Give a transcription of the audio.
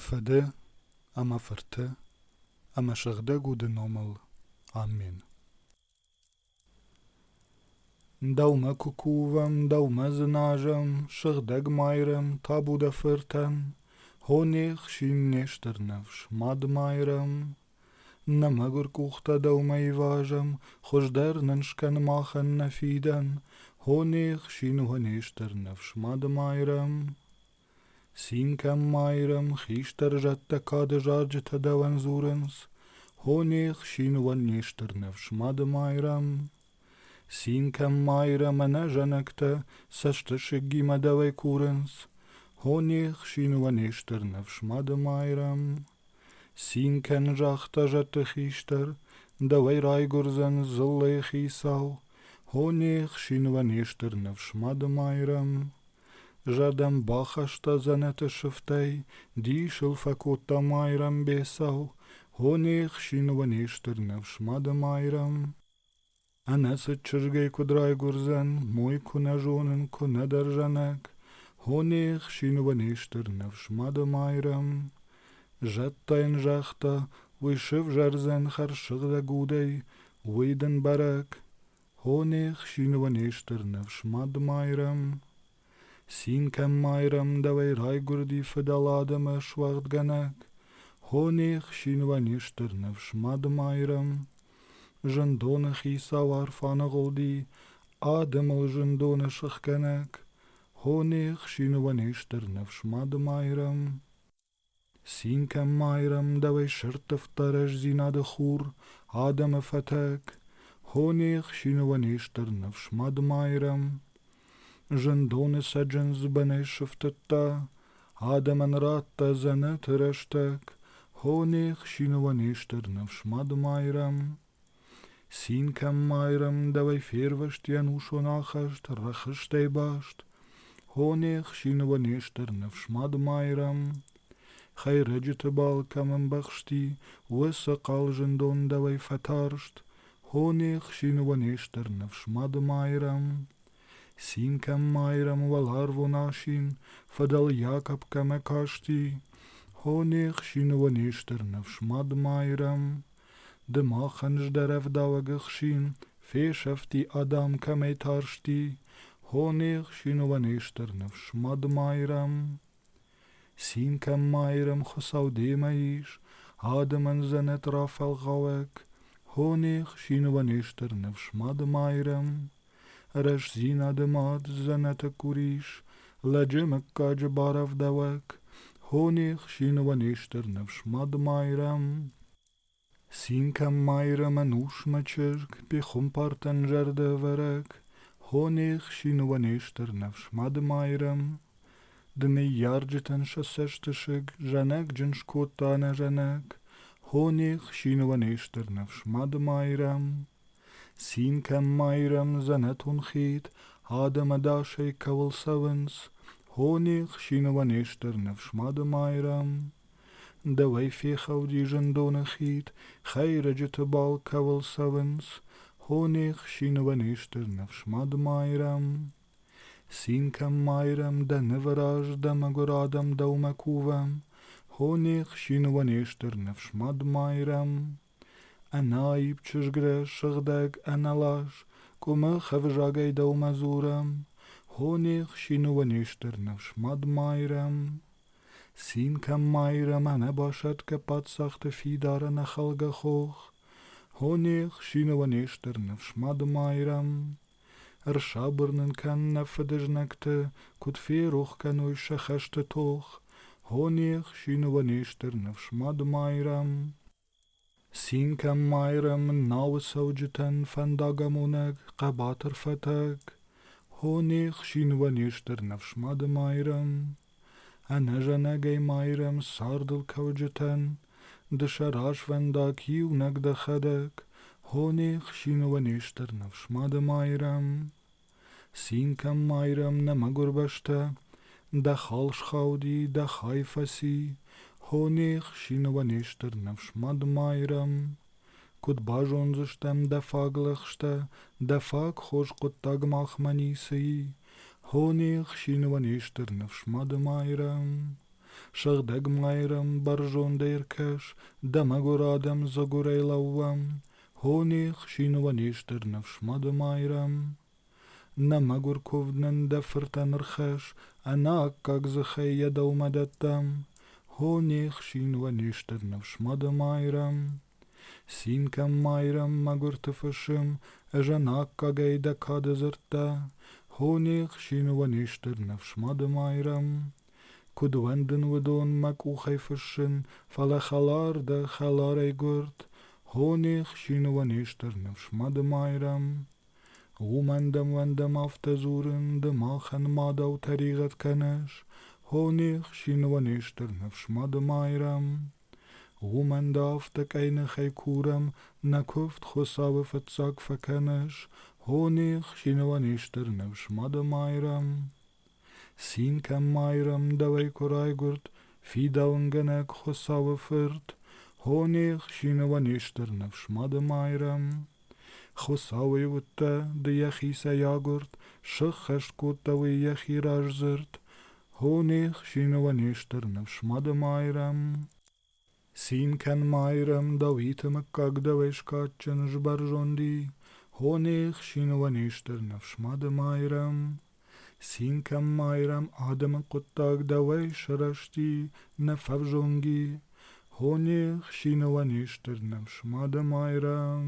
Фыды ӕмӕ Фырты ӕмӕ Сыгъдӕг Уды номыл. Амен. Дӕумӕ куы кувӕм, дӕумӕ дзыназӕм, Сыгъдӕг Майрӕм, табу дӕ Фыртӕн, Хо не хсин, не стыр ныфс, Мад Майрӕм, Нӕ мӕгуыр къухтӕ дӕумӕ ивазӕм, Хуыздӕр нын скӕн махӕн нӕ фидӕн, Хо не хсин уӕ не стыр ныфс мады майрӕм. Цин кӕм майрӕм, хистӕр зӕдтӕ кады зарджытӕ дӕуӕн дзурынц, Хо не хсин уӕ не стыр ныфс мады майрӕм. Цинкӕн Майрӕмӕ нӕ зӕнӕгтӕ цӕстысыгимӕ дӕуӕй курынц, Хо не хсинуӕ не стыр ныфс, мады Майрӕм. Цинкӕн загъта зӕдты хистӕр, дӕуӕй райгуырдзӕн дзыллӕйы хицау, Хо не хсинуӕ не стыр ныфс, мады Майрӕм. Зӕдӕн бахаста дзӕнӕты сыфтӕй, дисыл фӕкодта Майрӕм бецау, Хо не хсинуӕ не стыр ныфс, мады Майрӕм. Ӕнӕ цыд чызгӕй куыд райгуырдзӕн, мой куы нӕ зонын, куы нӕ дӕрзӕнӕг, Хо не хсинова не стыр ныфс, Мадымайрӕм. Зӕдтӕ йын загъта, уый сывзӕрдзӕн хӕрзсыгъдӕг удӕй, уый дын бӕрӕг. Хо не хсинова не стыр ныфс, Мадымайрӕм. Цинкӕн-Майрӕм дӕуӕй райгуырди фыдӕлад ӕмӕ суӕгъдгӕнӕг, Хо не хсинвӕ не стыр ныфс, Мадымайрӕм. Зындоны хицау арф аныгъуылди, Адӕмыл зындоны сыхгӕнӕг, Хо не хсинвӕ не стыр ныфс, Мадымайрӕм. Цинкӕн-Майрӕм дӕуӕй сӕрттывта рӕстдзинады хур, адӕмы фӕтӕг, Хо не хсиныуӕн не стыр ныфс мад Майрӕм. Зындоны цӕджындз бынӕй сыфтыдта, адӕмӕн радта дзӕнӕты рӕстӕг, Хо не хсиныуӕн не стыр ныфс мад Майрӕм. Цин кӕм майрӕмдӕуӕй фервӕзти ӕнусон ахаст рӕхыстӕй баст, Хо не хсинова нестӕр ныфсмад майрӕм. Хӕйрӕджыты бал кӕм ӕмбӕхсти, уӕ сӕ хъал зындон дӕуӕй фӕтарст, Хо не хсинова нестӕр ныфсмад майрӕм. Цин кӕм майрӕм уӕларвон асин, фӕдӕл Якоб кӕмӕ касти, Хо не хсинова нестӕр ныфсмад майрӕм. Ды махӕн здӕрӕвдауӕг ӕхсин, фесӕфти адӕм кӕмӕй тарсти, хо не хсиновӕн не стыр ныфс, Мадмайрӕм. Цин кӕн, Майрӕм, Хуыцау демӕ ис, адӕмӕн дзӕнӕт рафӕлгъауӕг, хо не хсиновӕн не стыр ныфс, Мадмайрӕм. Рӕстдзинады мад дзӕнӕты курис, Лӕджы мыггаджы барӕвдауӕг, Хо не хсины уӕ не стыр ныфс, Мад-Майрӕм. Цин кӕн, Майрӕмӕн усмӕ чызг, Пехуымпартӕн зӕрдӕвӕрӕг, Хо не хсины уӕ не стыр ныфс, Мад-Майрӕм. Ды ныййарджытӕн сӕ цӕстысыг, Зӕнӕгджын скодта нӕ зӕнӕг, Хо не хсины уӕ не стыр ныфс, Мад-Майрӕм. Цин кӕм майрӕм дзӕнӕтон хид, Адӕм ӕдасӕй кӕуыл цӕуынц, Хо не хсинова не стыр ныфс мады майрӕм. Дӕуӕй фехӕлди зындоны хид, Хӕйрӕджыты бал кӕуыл цӕуынц, Хо не хсинова не стыр ныфс мады майрӕм. Цин кӕм майрӕм дӕ нывы раз Дӕ мӕгуыр адӕм дӕумӕ кувӕм, Хо не хсинова не стыр ныфс мад майрӕм. Ӕнаипп чызгрӕ сыгъдӕг ӕналас Къуымы хӕвзагӕй дӕумӕ дзурӕм, Хо не хсины не стыр ныфс мад майрӕм. Цин кӕм майрӕм ӕнӕбасӕтгӕ паддзахты фидары нӕхъӕлгӕ хох, Хо не хсины не стыр ныфс мад майрӕм. Ӕрсабыр нын кӕн нӕ фыдызнӕгты, Куыд ферох кӕной сӕ хӕсты тох, Хо не хсины не стыр ныфс мад майрӕм. Цинкӕн Майрӕмы науы цӕуджытӕн фӕндагамонӕг хъӕбатыр фӕтӕг, Хо не хсинвӕ не стыр ныфсмады Майрӕм, Ӕнӕзӕнӕгӕй Майрӕм цардыл кӕуджытӕн, Ды сӕ развӕндаг иунӕг дӕхӕдӕг, Хо не хсинвӕ не стыр ныфсмады Майрӕм. Цинкӕн майрӕм нӕ мӕгурбӕстӕ, Дӕ хал схауди, дӕ хай фӕци, Хо не хсинова не стыр ныфс мад майрӕм. Куыд базондзыстӕм дӕ фаг лӕгъстӕ, Дӕ фаг хорз хъуыддаг махмӕ ницы и, Хо не хсинова не стыр ныфс мад майрӕм. Сыгъдӕг майрӕм бӕрзондӕй ӕркӕс, Дӕ мӕгуыр адӕм дзыгурӕй лӕууӕм, Хони хсинвӕнистӕр ныфс мады майрӕм. Нӕ мӕгуыр кувднын дӕ фыртӕн ӕрхӕсс, Ӕнаккаг дзыхӕй йӕ дӕумӕ дӕттӕм. Хони хсинвӕнистӕр ныфс мады майрӕм. Цин кӕн, майрӕм, мӕгуырты фысым, Ӕз ӕнаккагӕй дӕ кады дзырдтӕ. Хони хсинвӕнистӕр ныфс мады майрӕм. Куыд уӕндын уыдон мӕ къухӕй фыссын, фӕлӕ хӕлар дӕ, хӕларӕй гуырд, Хо не хсины уӕ не стыр ныфс, Мадымайрӕм. Уымӕн дӕм-уӕндӕм афтӕ дзурын, ды махӕн мадау тӕригъӕд кӕныс, Хо не хсины уӕ не стыр ныфс, Мадымайрӕм. Уымӕн дӕ афтӕ къӕйныхӕй курӕм, нӕ куывд Хуыцауы фыццаг фӕкӕныс, Хо не хсины уӕ не стыр ныфс, Мадымайрӕм. Цинкӕн майрӕмдӕвӕй куы райгуырд фидауынгӕнӕг Хуыцауы фырт, Хо не хсиновӕн не стыр ныфс мады майрӕм. Хуыцауӕй уыдтӕ, ды йӕхицӕй агуырд, Сыххӕст кодта уый йӕхи раздзырд, Хо не хсиновӕн не стыр ныфс мады майрӕм. Цин кӕн, Майрӕм, Давиты мыггаг дӕуӕй скадджын, сбӕрзонди, Хо не хсиновӕн ис дӕр ныфс мады Майрӕм. Цин кӕн, Майрӕм, адӕмы хъуыддаг дӕуӕй сырӕзти, нӕ фӕвзонги, Хо не хсиновӕн ис дӕр ныфс мады Майрӕм.